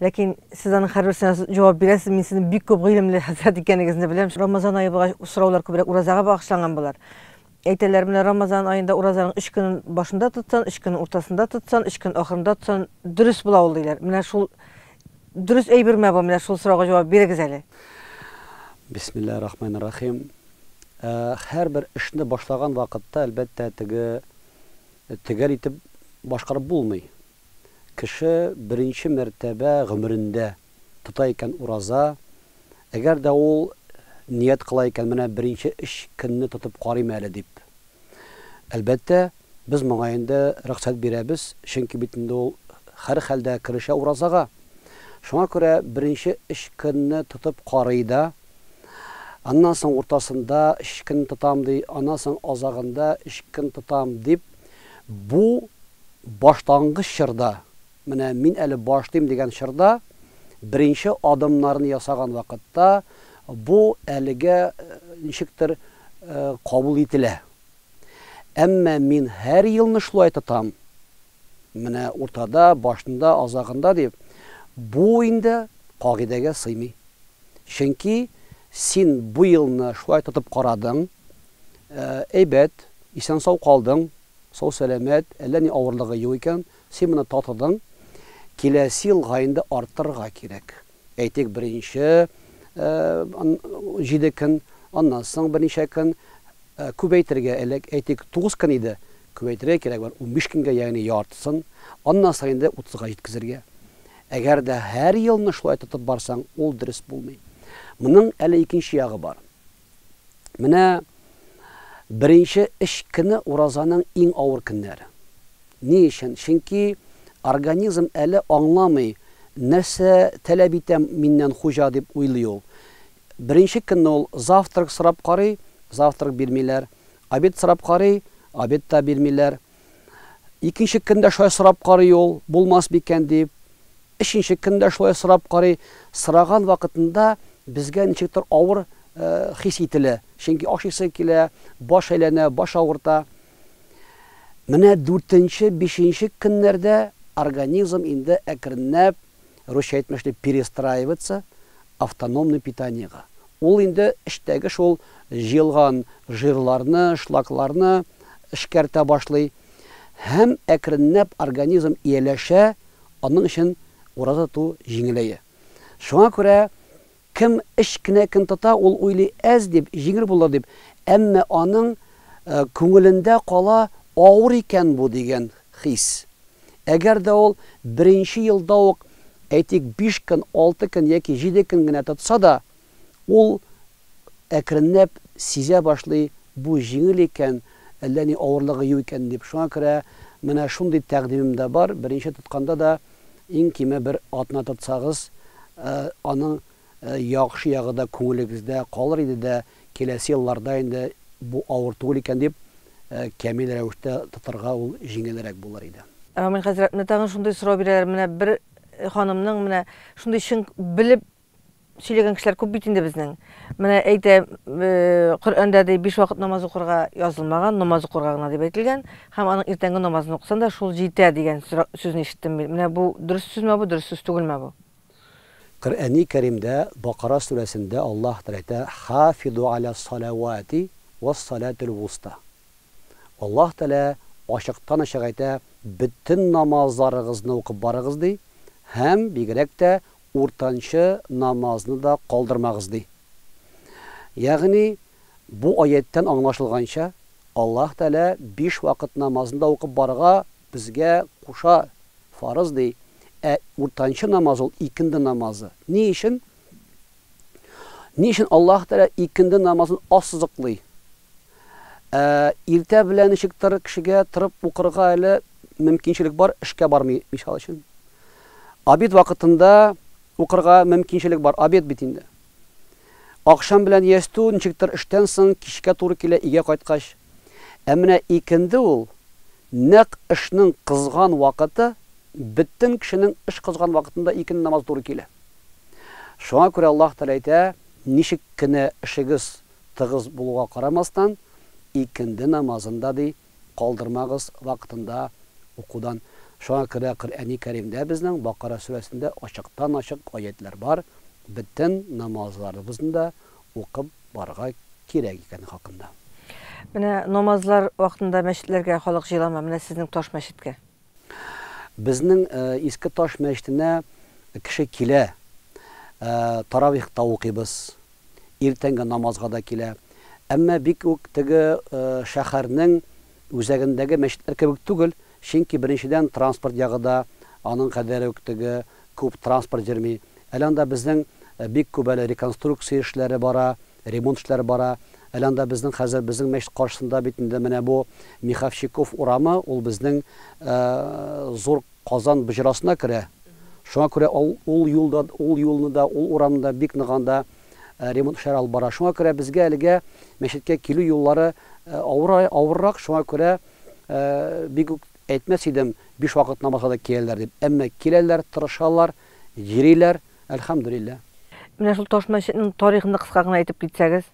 Ләкин сез аның һәр берсенә җавап бирәсез, мин сезнең бик күп гыйлемле хәзрәт икәнегезне беләм. Рамазан ае булгач, сораулар күбрәк уразага багышланган болар. Әйтәләр, менә Рамазан аенда уразаның өч көнен башында тотсан, өч көнен уртасында тотсан, өч көн ахырында тотсан, дөрес була ул диләр. Менә шул дөрес әйберме бу? Менә шул сорауга җавап бирегез әле. Бисмиллаһи рахмани рахим. Ә, һәрбер эшне башлаган вакытта, әлбәттә, теге төгәл итеп башкарып булмый. Кеше беренче мәртәбә гомерендә тота икән ураза, әгәр дә ул ният кыла икән, менә беренче өч көнне тотып карыйм әле дип. Әлбәттә, без моңа инде рөхсәт бирәбез, чөнки бит инде ул һәрхәлдә керешә уразага. Шуңа күрә беренче өч көнне тотып карый да, Аннан соң уртасында өч көн тотам, ди, аннан соң азагында өч көн тотам, дип, бу башлангыч чорда, менә мин әле башлыйм дигән чорда, беренче адымнарны ясаган вакытта бу әлегә ничектер кабул ителә. Әмма мин һәр елны шулай тотам. Менә уртада, башында, азагында дип, бу инде кагыйдәгә сыймый. Чөнки син бу елны шулай тотып карадың, әйбәт, исән-сау калдың, сау-сәламәт, әллә ни авырлыгы юк икән, син моны татыдың, киләсе елга инде арттырырга кирәк. Әйтик, беренче җиде көн, аннан соң берничә көн, күбәйтергә элек, әйтик, тугыз көн иде, күбәйтергә кирәк бер унбиш көнгә, ягъни яртысын, аннан соң инде утызга җиткезергә. Әгәр дә һәр елны шулай тотып барсаң, ул дөрес булмый. Моның әле икенче ягы бар. Менә беренче өч көне уразаның иң авыр көннәре. Ни өчен? Чөнки организм әле аңламый, нәрсә таләп итә миннән хуҗа дип уйлый ул. Беренче көнне ул завтрак сорап карый, завтрак бирмиләр, обед сорап карый, обед та бирмиләр. Икенче көн дә шулай сорап карый ул, булмас микән дип, Өченче көн дә шулай сорап карый. Сораган вакытында безгә ничектер авыр хис ителә. Чөнки ашыйсы килә, баш әйләнә, баш авырта. Менә дүртенче, бишенче көннәрдә организм инде әкренләп, русча әйтмешли, перестраивается автономный питаниегә. Ул инде эчтәге шул җыелган жирларны, шлакларны эшкәртә башлый һәм әкренләп организм ияләшә, Аның өчен ураза тоту җиңеләя. Шуңа күрә кем өч кенә көн тота, ул уйлый, әз дип, җиңел булыр дип, әмма аның күңелендә кала авыр икән бу дигән хис. Әгәр дә ул беренче елда ук, әйтик, биш көн, алты көн яки җиде көн генә тотса да, Ул әкренләп сизә башлый, бу җиңел икән, әллә ни авырлыгы юк икән дип. Шуңа күрә менә шундый тәкъдимем дә бар, беренче тотканда да иң киме бер атна тотсагыз, аның яхшы ягы да күңелегездә калыр иде дә, киләсе елларда инде бу авыр түгел икән дип камил рәвештә тотарга ул җиңелрәк булыр иде. Рамил хәзрәт, менә тагын шундый сорау бирәләр, менә бер ханымның менә шундый чын белеп Сөйләгән кешеләр күп бит инде безнең. Менә әйтә, Коръәндә ди, биш вакыт намаз укырга язылмаган, намаз укырга гына дип әйтелгән, һәм аның иртәнге намазын укысан да шул җитә дигән сүзне ишеттем мин. Менә бу дөрес сүзме бу, дөрес сүз түгелме бу? Коръәни Кәримдә Бакара сүрәсендә Аллаһ Тәгалә әйтә, Хафизу аля саләвати уа саләтул вуста. Аллаһ Тәгалә ачыктан-ачык әйтә, бөтен намазларыгызны укып барыгыз, ди, һәм бигрәк тә Уртанчы намазны да калдырмагыз, ди. Ягъни, бу аятьтән аңлашылганча, Аллаһ Тәгалә биш вакыт намазын да укып барырга безгә куша, фарыз, ди. Ә уртанчы намаз ул икенде намазы. Ни өчен? Ни өчен Аллаһ Тәгалә икенде намазын ассызыклый? Ә иртә белән ничек тыр кешегә торып укырга әле мөмкинчелек бар, эшкә бармый, мисал өчен. Обед вакытында укырга мөмкинчелек бар, обед бит инде. Акшам белән ястү, ничек тыр эштән соң кичкә туры килә өйгә кайткач. Ә менә икенде ул, нәкъ эшнең кызган вакыты, бөтен кешенең эш кызган вакытында икенде намазы туры килә. Шуңа күрә Аллаһ Тәгалә әйтә, Ничек кенә эшегез Тыгыз булуга карамастан, икенде намазын да, ди, калдырмагыз, вакытында укудан. Шуңа күрә Коръәни Кәримдә безнең Бакара сүрәсендә ачыктан-ачык аятьләр бар, бөтен намазларыбызны да укып барырга кирәк икәне хакында. Менә намазлар вакытында мәчетләргә халык җыела ма, менә сезнең таш мәчеткә? Безнең Иске Таш мәчетенә кеше килә, таравих та укыйбыз, иртәнге намазга да килә. Әмма бик үк теге шәһәрнең үзәгендәге мәчетләр кебек түгел, чөнки беренчедән транспорт ягы да аның кадәр үк теге күп транспорт йөрми. Әле анда безнең бик күп әле реконструкция эшләре бара, ремонт эшләре бара. Әле анда безнең хәзер безнең мәчет каршысында бит инде менә бу Миховщиков урамы, ул безнең зур Казан боҗрасына керә. Шуңа күрә ул ул юлда ул юлны да, ул урамны да бик нык анда ремонт эшләре алып бара. Шуңа күрә безгә әлегә мәчеткә килү юллары авыр авыррак, шуңа күрә бик үк әйтмәс идем, биш вакыт намазга да киләләр дип. Әмма киләләр, тырышалар, Йөриләр, әлхәмдүлиллә. Менә шул таш мәчетнең тарихын да кыска гына әйтеп китсәгез.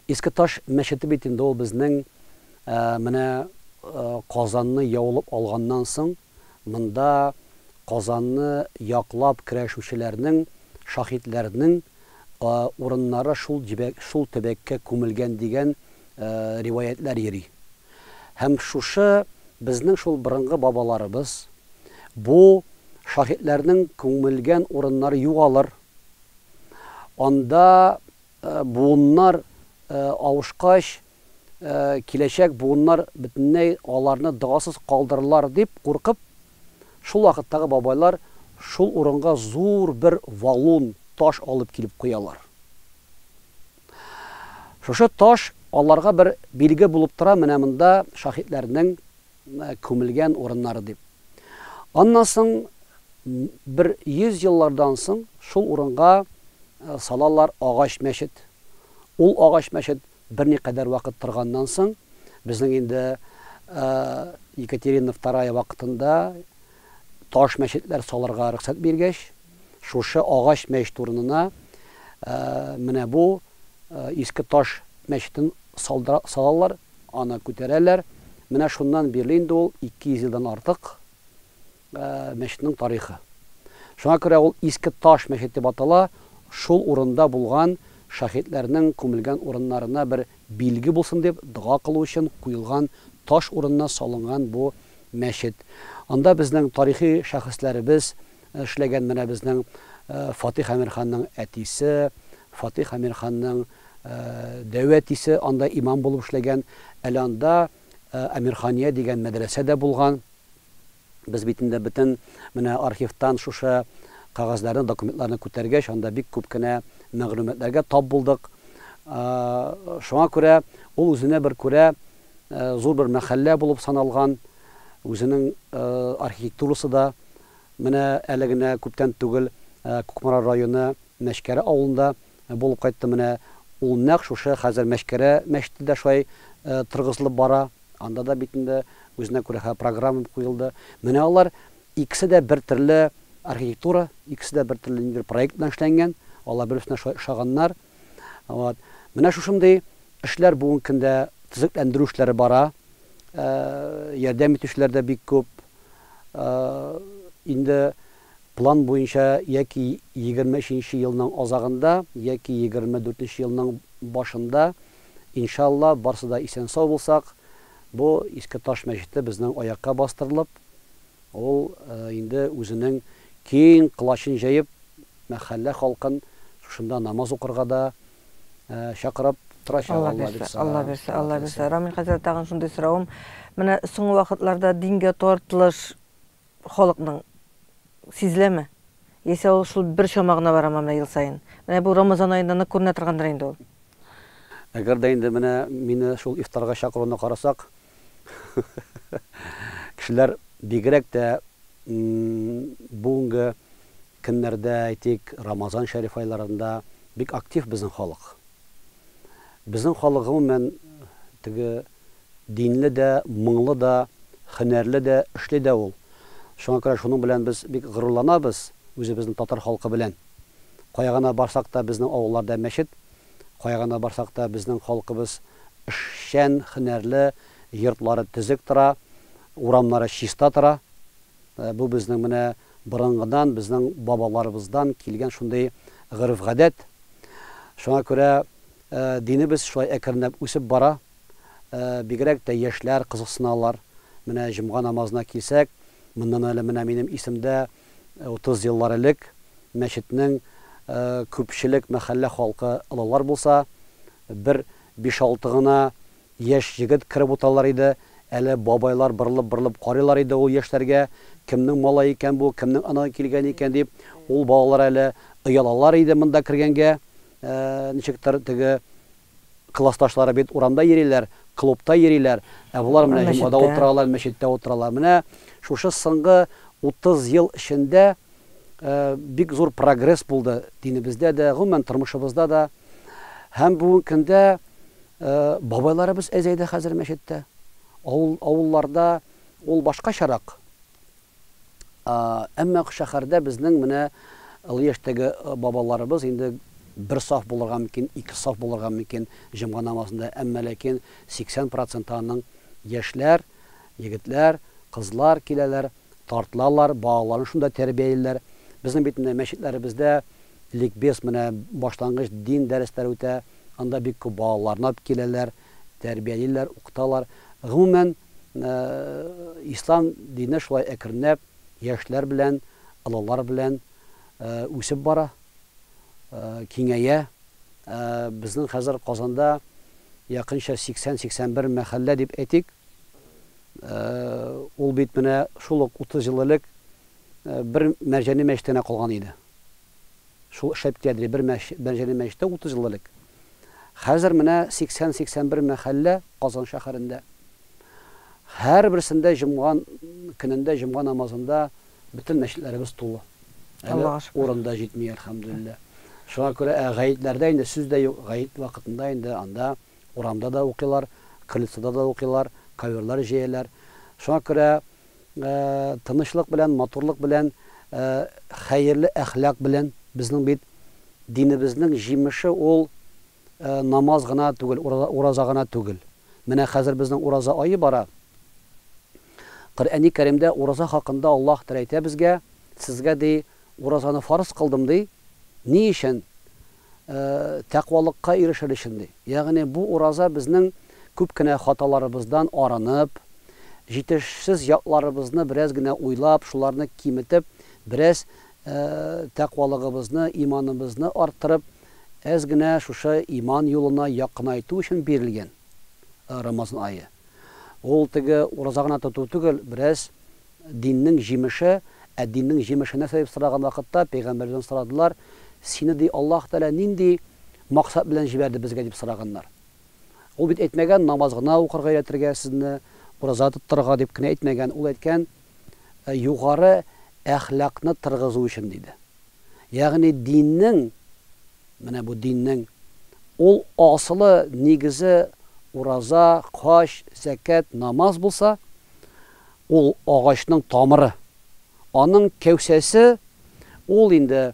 Иске таш мәчете бит инде ул безнең менә Казанны яулып алганнан соң монда Казанны яклап көрәшүчеләрнең, шаһитләрнең а урыннары шул җебәк шул төбәккә күмелгән дигән риваятьләр йөри һәм шушы безнең шул борынгы бабаларыбыз бу шаһитләрнең күмелгән урыннары югалыр анда буыннар авышкач киләчәк буыннар бөтенләй аларны догасыз калдырырлар дип куркып, шул вакыттагы бабайлар шул урынга зур бер валун, таш алып килеп куялар. Шушы таш аларга бер билге булып тора, менә монда шаһитләрнең күмелгән урыннары дип. Аннан соң бер 100 еллардан соң шул урынга салалар агач мәчет. Ул агач мәчет Берникадәр вакыт торганнан соң, безнең инде Екатерина II вакытында таш мәчетләр салырга рөхсәт биргәч, шушы агач мәчет урынына менә бу иске таш мәчетен салалар, аны күтәрәләр. Менә шуннан бирле инде ул 200 елдан артык Мәчетнең тарихы. Шуңа күрә ул Иске Таш мәчет дип атала, шул урында булган шаһитләрнең күмелгән урыннарына бер билге булсын дип, дога кылу өчен куелган таш урынына салынган бу мәчет. Анда безнең тарихи шәхесләребез эшләгән, менә безнең Фатих Әмирханның әтисе, Фатих Әмирханның дәү әтисе анда имам булып эшләгән. Әле анда Әмирхания дигән мәдрәсә дә булган. Без бит инде бөтен менә архивтан шушы кәгазьләрне, документларны күтәргәч, анда бик күп кенә мәгълүматларга тап булдык. Шуңа күрә ул үзенә бер күрә зур бер мәхәллә булып саналган, үзенең архитектурасы да менә әле генә күптән түгел Кукмара районы Мәчкәре авылында булып кайтты менә ул нәкъ шушы хәзер мәчкәрә мәчете дә шулай торгызылып бара анда да бит инде үзенә күрә хә программа куелды менә алар икесе дә бер төрле архитектура икесе дә бер төрле ниндидер проект белән эшләнгән алар бер берсенә шулай ошаганнар вот менә шушындый эшләр бүгенге көндә төзекләндерү эшләре бара ярдәм итүчеләр дә бик күп инде План буенча яки егерме өченче елның азагында, яки егерме дүртенче елның башында, иншалла, барсы да исән-сау булсак, бу Иске Таш мәчете безнең аякка бастырылып, ул инде үзенең киң колачын җәеп, мәхәллә халкын шушында намаз укырга да чакырып торачак, Алла бирса. Алла бирса, Алла бирса. Рамил хәзрәт, тагын шундый соравым, менә соңгы вакытларда дингә тартылыш, халыкның сизеләме? Яисә ул шул бер чама гына барамы менә ел саен? Менә бу Рамазан аенда нык күренә торгандыр инде ул. Әгәр дә инде менә мине шул ифтарга чакыруны карасак, кешеләр бигрәк тә бүгенге көннәрдә, әйтик, Рамазан шәриф айларында бик актив безнең халык. Безнең халык гомумән теге динле дә, моңлы да, һөнәрле дә, эшли дә ул. Шуңа күрә шуның белән без бик горурланабыз, үзебезнең татар халкы белән. Кая гына барсак та безнең авылларда мәчет, кая гына барсак та безнең халкыбыз эшчән, һөнәрле, йортлары төзек тора, урамнары чиста тора. Бу безнең менә борынгыдан, безнең бабаларыбыздан килгән шундый гореф-гадәт. Шуңа күрә Динебез шулай әкренләп үсеп бара. Бигрәк тә яшьләр кызыксыналар. Менә җомга намазына килсәк, моннан әле менә минем исемдә утыз еллар элек мәчетнең күпчелек мәхәллә халкы олылар булса, бер биш-алты гына яшь егет кереп утыралар иде, әле бабайлар борылып-борылып карыйлар иде ул яшьләргә, кемнең малае икән бу, кемнең анадан килгәне икән дип, ул балалар әле оялалар иде монда кергәнгә. Ничектер теге классташлары бит урамда йөриләр, клубта йөриләр, ә болар менә җомгада утыралар, мәчеттә утыралар. Менә шушы соңгы 30 ел эчендә бик зур прогресс булды динебездә дә, гомумән тормышыбызда да. Һәм бүгенге көндә бабайларыбыз әзәйде хәзер мәчеттә. Авыл, авылларда ул башкачарак. Әмма шәһәрдә безнең менә олы яшьтәге бабаларыбыз инде бер саф булырга мөмкин, ике саф булырга мөмкин җомга намазында, әмма ләкин 80 проценты аның яшьләр, егетләр, кызлар киләләр, тартылалар, балаларын шунда тәрбиялиләр. Безнең бит менә мәчетләребездә ликбез, менә башлангыч дин дәресләре үтә, анда бик күп балаларны алып киләләр, тәрбиялиләр, укыталар. Гомумән, Ислам дине шулай әкренләп яшьләр белән, олылар белән үсеп бара, киңәя. Безнең хәзер Казанда якынча 80-81 мәхәллә дип әйтик. Ул бит менә шул ук 30 ел элек бер Мәрҗани мәчете генә калган иде. Шул шәп киядри, бер мәче, Бәнҗәне мәчете 30 ел элек. Хәзер менә 80-81 мәхәллә Казан шәһәрендә. Һәрберсендә җомга көнендә, җомга намазында бөтен мәчетләребез тулы. Әле урын да җитми, әлхәмдүлилләһ. Шуңа күрә, ә гаетләрдә инде сүз дә юк, гает вакытында инде анда урамда да укыйлар, крыльцода да укыйлар, коверлар җәяләр. Шуңа күрә, тынычлык белән, матурлык белән, хәерле әхлак белән. Безнең бит динебезнең җимеше ул намаз гына түгел, ураза гына түгел. Менә хәзер безнең ураза ае бара. Коръәни Кәримдә ураза хакында Аллаһ Тәгалә әйтә безгә, Сезгә, ди, уразаны фарыз кылдым, ди. Ни өчен? тәкъвалыкка ирешер өчен, ди. Ягъни бу ураза безнең күп кенә хаталарыбыздан арынып, җитешсез якларыбызны бераз генә уйлап, шуларны киметеп, бераз тәкъвалыгыбызны, иманыбызны арттырып, әз генә шушы иман юлына якынайту өчен бирелгән Рамазан ае. Ул теге ураза гына тоту түгел, бераз Диннең җимеше, ә диннең җимеше нәрсә дип сораган вакытта, пәйгамбәрдән сорадылар, Сине, ди, Аллаһ Тәгалә нинди максат белән җибәрде безгә, дип сораганнар. Ул бит әйтмәгән, намаз гына укырга өйрәтергә сезне, ураза тоттырырга дип кенә әйтмәгән, ул әйткән, югары әхлакны тыргызу өчен, диде. Ягъни диннең, менә бу диннең ул асылы, нигезе ураза, хаҗ, зәкят, намаз булса, ул агачның тамыры. Аның кәүсәсе ул инде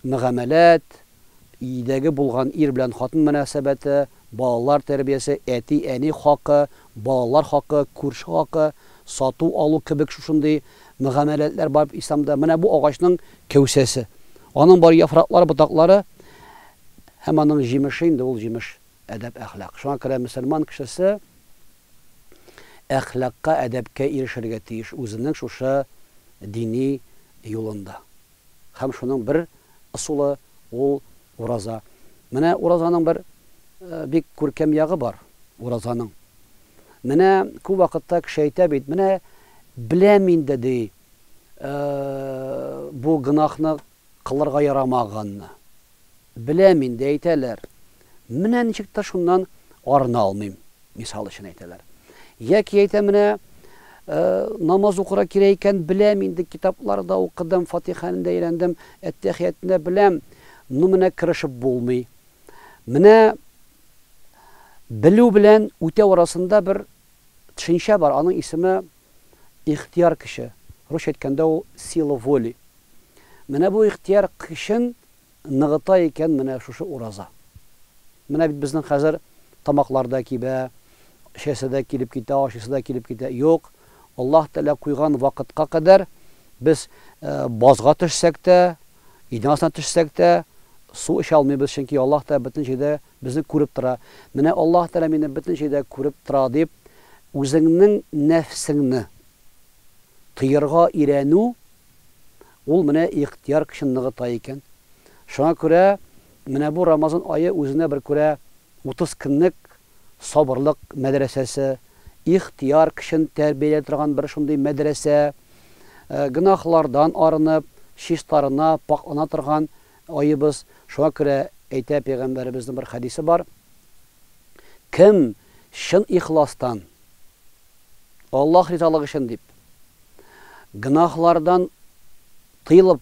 мөгамәләт, өйдәге булган ир белән хатын мөнәсәбәте, балалар тәрбиясе, әти-әни хакы, балалар хакы, күрше хакы, сату-алу кебек шушындый мөгамәләтләр бар бит Исламда. Менә бу агачның кәүсәсе. Аның бар яфраклары, ботаклары һәм аның җимеше инде ул җимеш. әдәп-әхлак. Шуңа күрә мөселман кешесе әхлакка, әдәпкә ирешергә тиеш үзенең шушы дини юлында. Һәм шуның бер ысулы, ул ураза. Менә уразаның бер бик күркәм ягы бар уразаның. Менә күп вакытта кеше әйтә бит, менә беләм инде, ди, бу гөнаһны. Кылырга ярамаганны. Беләм инде, әйтәләр. Менә ничек тә шуннан арына алмыйм, мисал өчен әйтәләр. Яки әйтә менә, намаз укырга кирәк икән, беләм инде, китаплар да укыдым, Фатиханы да өйрәндем, Әттәхиятны да беләм, ну менә керешеп булмый. Менә белү белән үтәү арасында бер төшенчә бар, аның исеме, ихтыяр көче, русча әйткәндә ул сила воли. Менә бу ихтыяр көчен ныгыта икән менә шушы ураза. Менә бит безнең хәзер тамаклар да кибә, эчәсе дә килеп китә, ашыйсы да килеп китә. Юк, Аллаһ Тәгалә куйган вакытка кадәр без базга төшсәк тә, идән астына төшсәк тә, су эчә алмыйбыз, чөнки Аллаһ Тәгалә бөтен җирдә Безне күреп тора. Менә Аллаһ Тәгалә мине бөтенчә дә күреп тора дип, үзеңнең нәфсеңне тыерга өйрәнү, ул менә ихтыяр көчен ныгыта икән. Шуңа күрә менә бу Рамазан ае үзенә бер күрә 30 көнлек сабырлык мәдрәсәсе, ихтыяр көчен тәрбияләй торган бер шундый мәдрәсә, гөнаһлардан арынып, чистарына, пакълана торган Аебыз, шуңа күрә әйтә пәйгамбәребезнең бер хәдисе бар, Кем чын ихластан, Аллаһ ризалыгы өчен дип, гөнаһлардан тыелып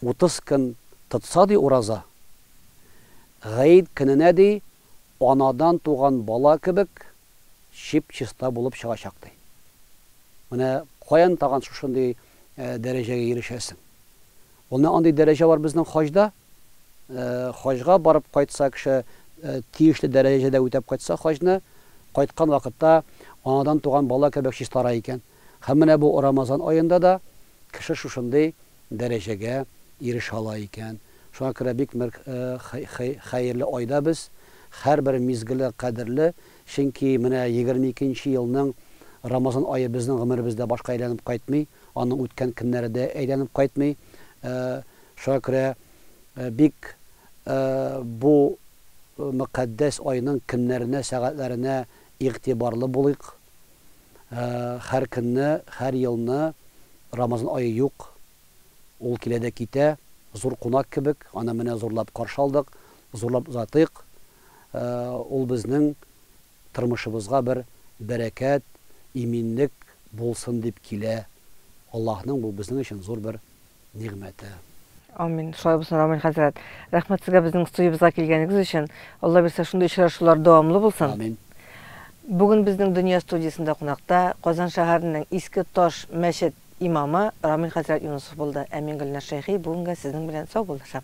утыз көн тотса, ди, ураза, гает көненә, ди, анадан туган бала кебек чип-чиста булып чыгачак, ди. Менә каян тагын шушындый дәрәҗәгә ирешәсең? Ул менә андый дәрәҗә бар безнең хаҗда. Хаҗга барып кайтса кеше, тиешле дәрәҗәдә үтәп кайтса хаҗны, кайткан вакытта анадан туган бала кебек чистара икән. Һәм менә бу Рамазан аенда да кеше шушындый дәрәҗәгә ирешә ала икән. Шуңа күрә бик мер хәерле айда без, һәрбер мизгеле кадерле, чөнки менә егерме икенче елның Рамазан ае безнең гомеребездә башка әйләнеп кайтмый, аның үткән көннәре дә әйләнеп кайтмый. Шуңа күрә бик бу мөкатдәс айның көннәренә, сәгатьләренә игътибарлы булыйк, һәр көнне, һәр елны Рамазан ае юк, ул килә дә китә, зур кунак кебек, аны менә зурлап каршы алдык, зурлап озатыйк, ул безнең тормышыбызга бер бәрәкәт, иминлек булсын дип килә, Аллаһның бу безнең өчен зур бер нигъмәте. Амин. Шулай булсын, Рамил хәзрәт. Рәхмәт сезгә безнең студиябезгә килгәнегез өчен. Алла бирсә, шундый очрашулар дәвамлы булсын. Амин. Бүген безнең Дөнья студиясендә кунакта Казан шәһәренең Иске Таш мәчет имамы Рамил хәзрәт Юнысов булды. Ә мин Гөлназ Шәйхи бүгенгә сезнең белән саубуллашам.